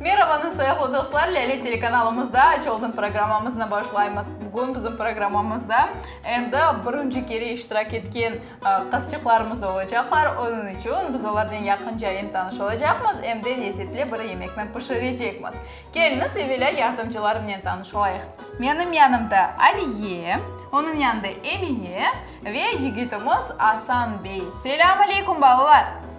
Merhabanız, soyaqlı dostlar! Lâle telekanalımızda Aç oldum programmamıznı başlaymız. Bugün bizim programmamızda endi birinci kere iştirak etken qızçıqlarımız da olacaqlar. Onıñ içün biz olarnen yaqınca em tanış olacaqmız, em de lezzetli bir yemekni pişirecekmiz. Keliñiz, evelâ yardımcılarımnen tanış olayıq. Menim yanımda Aliye, onıñ yanında Emine ve yigitimiz Asan bey. Selâm aleykum, balalar!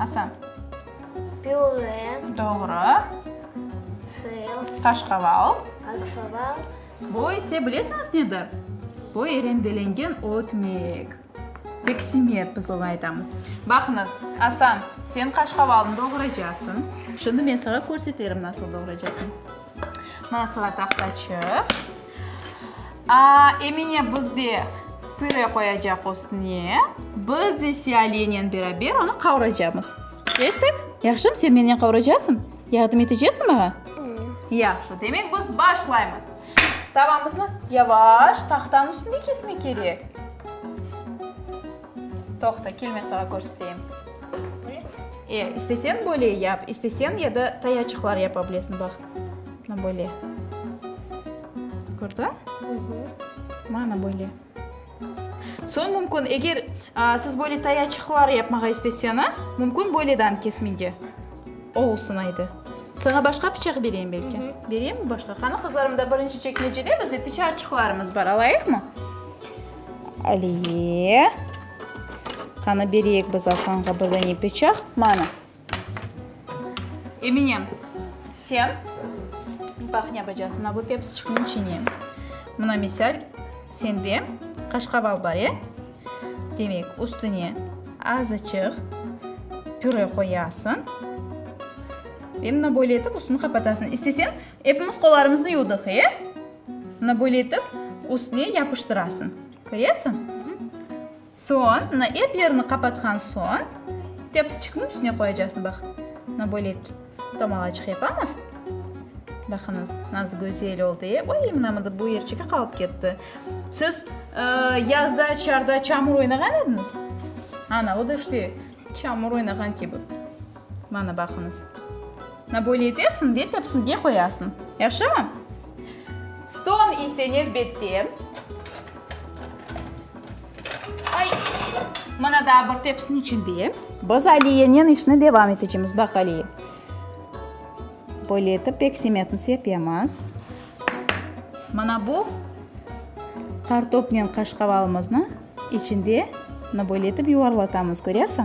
Asa. Püre. Doğru. Sır. Qaşqaval. Qaşqaval. Bu ise bilesinız nedir? Bu erendelengen ötmek. Peksimet biz oña aytamız. Baqınız, Asan, sen qaşqavalnı doğraycasıñ. Şimdi men saña körseterim nasıl doğraycasıñ. Mına sıra taqtaçıq. Emine bizde püre qoyacaq üstüne, biz ise Aliyenen beraber onı qavraycamız. Eşittik? Yahşım, sen menen qavraycasıñ? Yardım etecesiñ maña? Yahşı, demek biz başlaymız. Tavamıznı yavaş tahtanıñ üstünde kesmek kerek. Toqta, kel, men saña körseteyim. E, isteseñ böyle yap, isteseñ ya da tayaçıqlar yapa bilesiñ, bax. Mana böyle. Kördiñ? Mana böyle. Soñ mümkün, eger siz böyle tayaçıqlar yapmağa isteseñiz, mümkün böyleden kesmege olsun aydı. Saña başqa pıçaq bereyim belki? Bereyimmi başqa? Qani, qızlarım, mında birinci çekmecede bizde pıçaçıqlarımız bar, alayıqmı? Aliye. Qani, bereyik biz Asanğa birdene pıçaq. Mana. Emine, sen, baq ne yapacağız, mına bu tepsiçikniñ içine, mına misal, sende qaşqabal bar, e? Demek, üstüne azıcıq püre qoyasıñ ve mına böyle etip üstüni qapatasıñ. İsteseñ, epimiz qollarımıznı yuvdıq, e? Mına böyle etip üstüne yapıştırasıñ. Köresiñ? Soñ, mına, ep yerini qapatqan soñ, tepsiçikniñ üstüne qoyacaqsıñ, baq. Mına, böyle etken tomalacıq yapamız. Baqıñız, nasıl gözel oldı, e? Oy, mına, mında bu yerçeki qalıp ketti. Siz yazda çarda çamur oynağan ediñiz? Ana, o da işte çamur oynağan kibi. Mana, baqıñız. Na böyle etesiñ ve tepsiñge qoyasıñ. Yahşımı? Soñ ise nevbette, ay, mına daa bir tepsiniñ içinde biz Aliyenen işni devam etecemiz. Baq, Aliye, böyle etip peksimetni sepemiz. Mına bu qartopnen qaşqavalımıznı içinde mına böyle etip yuvarlatamız, köresiñ?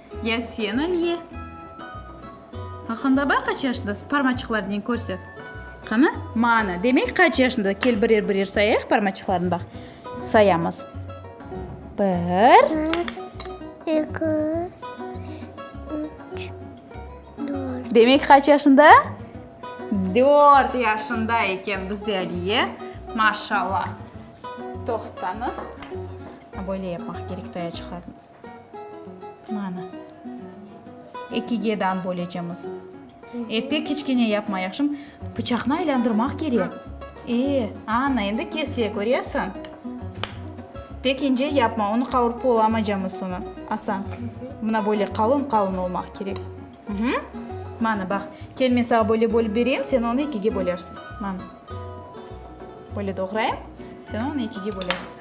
Ya sen Aliye? Aqında bar qaç yaşındasıñ? Parmaçıqlarnen körset. Qana, mana, demek qaç yaşında? Kel birer-birer sayayıq parmaçıqlarnı baq. Sayamız. Bir. Bir, eki, üç, dört. Demek qaç yaşında? Dört yaşında eken bizde Aliye. Maşallah. Toqtañız. Böyle yapmaq kerek, taya çıqardım. Mana, ekige dan bölecemiz. E, pek kiçkene yapma, yahşımı? Pıçaqnı aylandırmaq kerek. E, ana, endi kese, köresiñ? Pek ince yapma, onı qavurıp bolamaycamız soñra. Asa, mına böyle qalın-qalın olmaq kerek. Mana, baq, kel, men saña böyle bölip bereyim, sen onı ekige bölersiñ. Mana. Böyle doğrayım, sen onı ekige bölesiñ.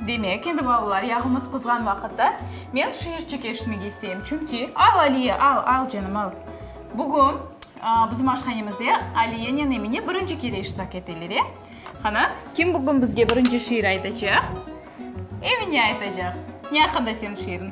Demek, endi balalar, yağımız qızğan vaqıtta men şiirçik eşitmege isteyim, çünki. Al, Aliye, al, al, canım, al. Bugün bizim aşhanemizde Aliyenen Emine birinci kere iştirak eteler, e? Qana, kim bugün bizge birinci şiir aytacaq? Emine aytacaq. Ne aqqında seniñ şiiriñ?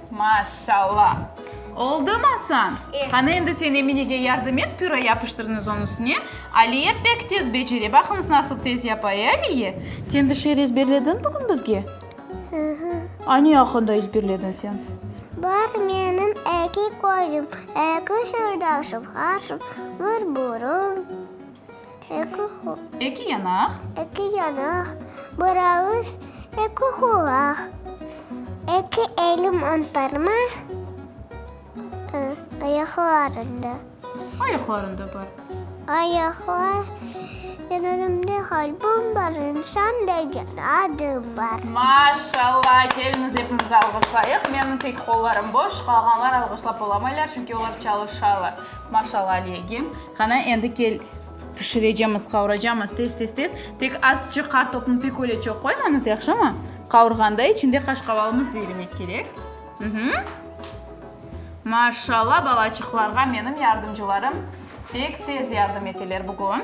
Maşalla! Oldım asan! Qani, endi sen Eminege yardım et, püre yapıştırınız onıñ üstüne. Aliye pek tez becere, baqıñız, nasıl tez yapa, e, Aliye? Sen bir şiir ezberlediñ bugün bizge? Hı-hı. A, ne aqqında ezberlediñ sen? Bar menim eki közüm, eki sırdaşım, qaşım, bir burun. Eki qul. Eki yanaq. Eki yanaq. Bir ağız, eki qulaq. Eki elim on parma, ı, ayaqlarında. Ayaqlarında bar. Ayaqlar, elimde qalbim bar, insan degen adım bar. Maşallah! Keliñiz, epimiz alğışlayıq. Menim tek qollarım boş, qalğanlar alğışlap olamaylar, çünki olar çalışalar. Maşallah Aliyege. Qana, endi kel, pişirecemiz, qavuracamız tez-tez-tez. Tek azıcıq qartopnı pek öyle çoq qoymañız, yahşımı? Qavurğanda içinde qaşqavalımız da erimek kerek. Mh-hu. Maşallah, balaçıqlarğa menim yardımcılarım pek tez yardım eteler bugün.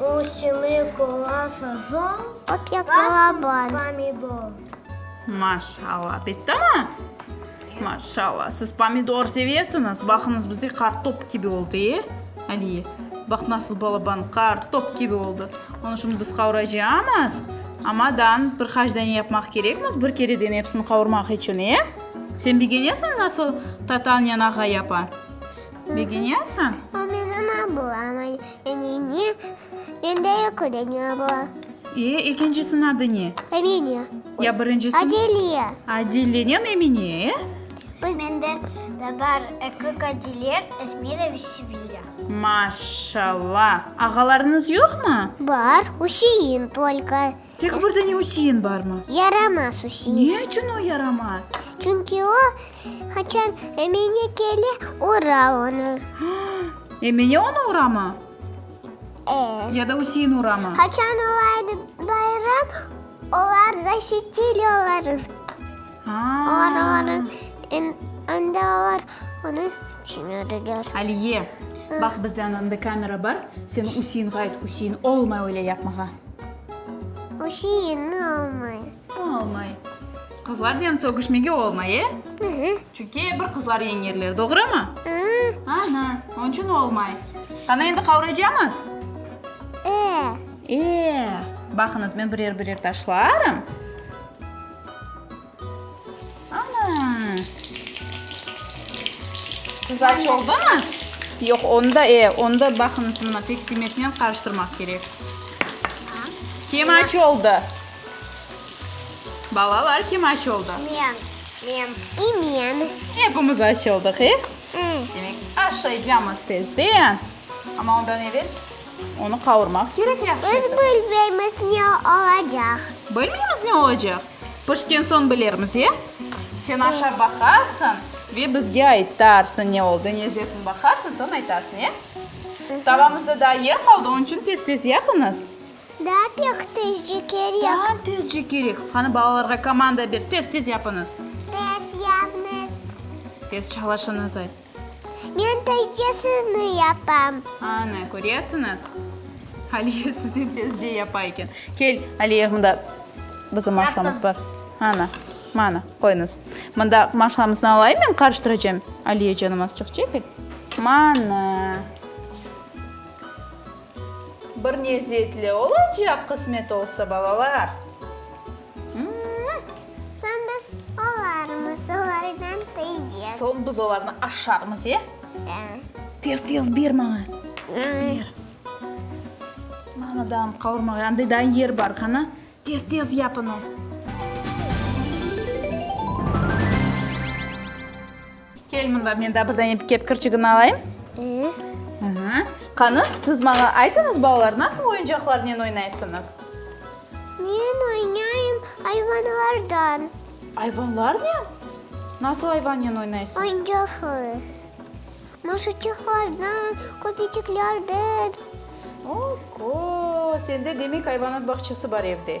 Ösümlik ola sazon, papyak ola bal, pomidor. Maşallah, bittimi? Maşallah, siz pomidor sevesiñiz. Baqıñız, bizde qartop kibi oldı, e? Aliye, baq, nasıl balaban qartop kibi oldı. Onı şimdi biz qavuracamız. Amadan bir qaç dane yapmaq kerekmiz, bir kereden epsini qavurmaq içün, e? Sen begenesiñ, nasıl tatan yanağa yapa? Begenyasañ? O menim ablam, Emine. Mende yoq ögeni abla. E, ekincisiñ adı ne? Emine. Ya birincisiñ? Adile. Adilenen Emine, e? Mende de bar eki qadiler, Esmira ve Sevilâ. Maşşalla! Ağalarıñız yoqmı? Bar, Üsein tolko. Tek bir dene üsiyin barmı? Yaramaz üsiyin. Ne içün o yaramaz? Çünki o, qaçan Emine kele, ura onı. Emine onı uramı? E. Ya da üsiyin uramı? Qaçan olaydı bayram, olar zaşitili olarız. Onda olar onı tüşünerler. Aliye, bax, bizden indi kamera bar, seni üsiyin, ğayet üsiyin olmay öyle yapmağa. Oşeyenni almay. O almay. Qızlarnen sögüşmege olmay, e? Hı-hı. Çünki bir qızlar yeñerler, doğrumı? Hı-ı. Ana, onıñ içün olmay. Qana, endi qavraycamız? E. E. Baqıñız, men birer-birer taşlarım. Qızarç oldumı? Yoq, onda, e, onda baqıñız, mına, pek simetnen qarıştırmaq kerek. Kemaç oldı. Balalar, kim aç oldı? Men. Men. İ men. Epimiz aç oldıq, e? Demek, aşaycamız tezden. Amma ondan evel onı qavurmaq kerek yahşıca. Biz bilmeymiz ne olacaq. Bilmeymiz ne olacaq? Pişken soñ bilermiz, e? Sen aşav baqarsıñ ve bizge aytarsıñ, ne oldı, ne zetin baqarsıñ, soñ aytarsıñ, e? Tavamızda daa yer qaldı, onıñ içün tez-tez yapıñız. Daa pek tezce kerek. Daa tezce kerek. Qani, balalarğa komanda ber, tez-tez yapıñız. Tez yapıñız. Tez çalışıñız ayt. Men tezce sizni yapam. Ana, köresiñiz, Aliye sizni tezce yapa eken. Kel, Aliye, mında bizim maşamız bar. Ana, mana, qoyuñız. Mında maşamıznı alayım, men qarıştıracağım. Aliye canım azçıq çekil. Mana. Bir lezetli olacaq, qısmet olsa, balalar. Soñ biz olarmız olardan tıycız. Soñ biz olarnı aşarmız, e? Da. Tez-tez ber maña. Ber. Mana da ant qavurmağa, anda da yer bar, qana. Tez-tez yapıñız. Kel mında, men daa bir dane kep kirçigini alayım. Aha. Qani, siz maña aytıñız, balalar, nasıl oyuncaqlarnen oynaysıñız? Men oynayım ayvanlardan. Ayvanlarnen? Nasıl ayvannen oynaysıñız? Oyuncaqlı. Maşaçıqlardan, köpeciklerden. Oho, sende, demek, ayvanat bağçası bar evde.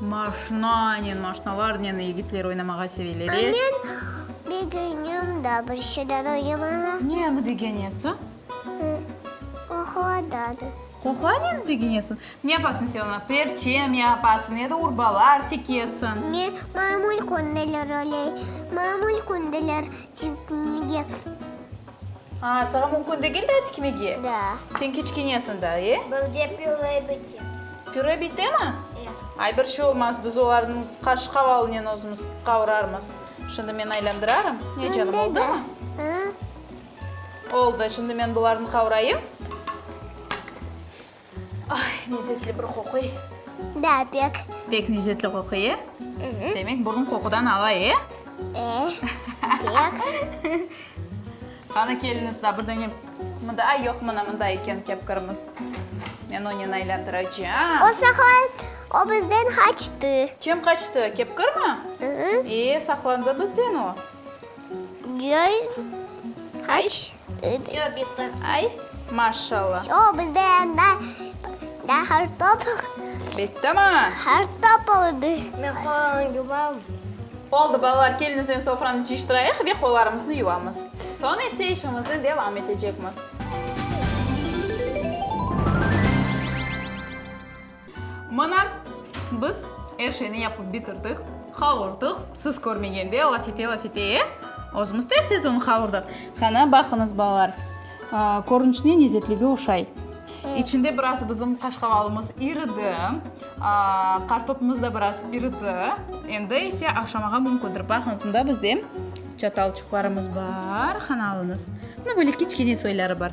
Maşnanen, maşnalarnen yigitler oynamağa seveleri. Men begenim da bir şeyler oynamağa. Neni begenesiñ? Qoqladanı. Qoqlaneni begenesiñ? Ne yapasıñ sen oña? Perçem yapasıñ ya da urbalar tikesiñ? Men mamul kündeler oynay. Mamul kündeler tikmege. Aa, saña mümkün degil daa tikmege? Da. Sen kiçkinesiñ daa, e? Bizde püre bite. Püre bitemi? E. Ay, bir şey olmaz, biz olarnıñ qaşqavalinen özümiz qavurarmız. Şimdi men aylandırarım. Ne, canım, oldumı? Oldı, şimdi men bularnı qavurayım. Ay, lezetli bir qoquy. Da, pek. Pek lezetli qoquy, e? Demek, burun qoqudan ava, e? E, pek. Qani, keliñiz da, birden em. Mında, ay, yoq, mına mında eken kepkırımız. Men onen aylantıracam. O saqlan, o bizden qaçtı. Kim qaçtı, kepkır mı? E, saqlandı bizden o. Yoy, qaç. Çöp yıktı. Ay, maşallah. O bizde anda da hartop. Bitti mi? Hartop oldı. Men qolarım yuvamın. Oldı balalar, keliñizden sofranı cıyıştırayıq ve qolarımıznı yuvamız. Soñ ise işimizni devam etecekmiz. Mına, biz er şeyni yapıp bitirdik, qavurdıq. Siz körmegende lafete-lafete, e? Özümiz tez-tez onı qavurdıq. Qana, baqıñız, balalar, körünişine lezetligi oşay. İçinde biraz bizim qaşqavalımız iridi, qartopımız da biraz iridi. Endi ise aşamağa mümkündir. Baqıñız, mında bizde çatalçıqlarımız bar, qana alıñız. Mında böyle kiçkene soyları bar.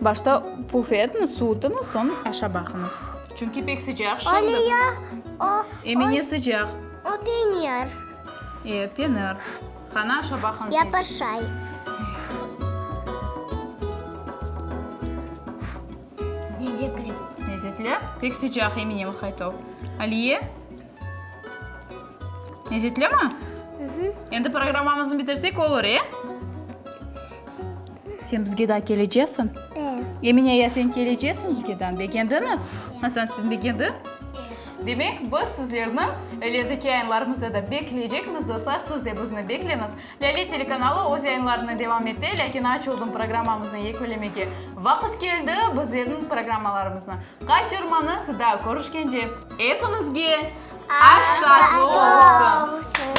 Başta puf etniz, suvutıñız, soñ aşa baqıñız. Çünki pek sıcaq şimdi. Öyle ya, o. Emine sıcaq. O penir. E, penir. Qana aşa baqıñız. Yapışay. Lezetli. Lezetli? Pek sıcaq, Emine, vıhaytov. Aliye? Lezetlimi? Endi programmamıznı bitirsek olur, e? Sen bizge daa keleceksin? Emine, ya sen keleceksin bizge daa? Begendiñiz? Hasan, sen begendiñ? Demek, biz sizlerni ilerideki yayınlarımızda da bekleycekmiz, dostlar. Siz de bizni bekleñiz. Lâle telekanalı öz yayınlarını devam ete, lâkin aç oldım programmamıznı yekülemege vaqıt keldi. Bizlerniñ programmalarımıznı qaçırmañız, daa körüşkence epiñizge aş tatlı olsun!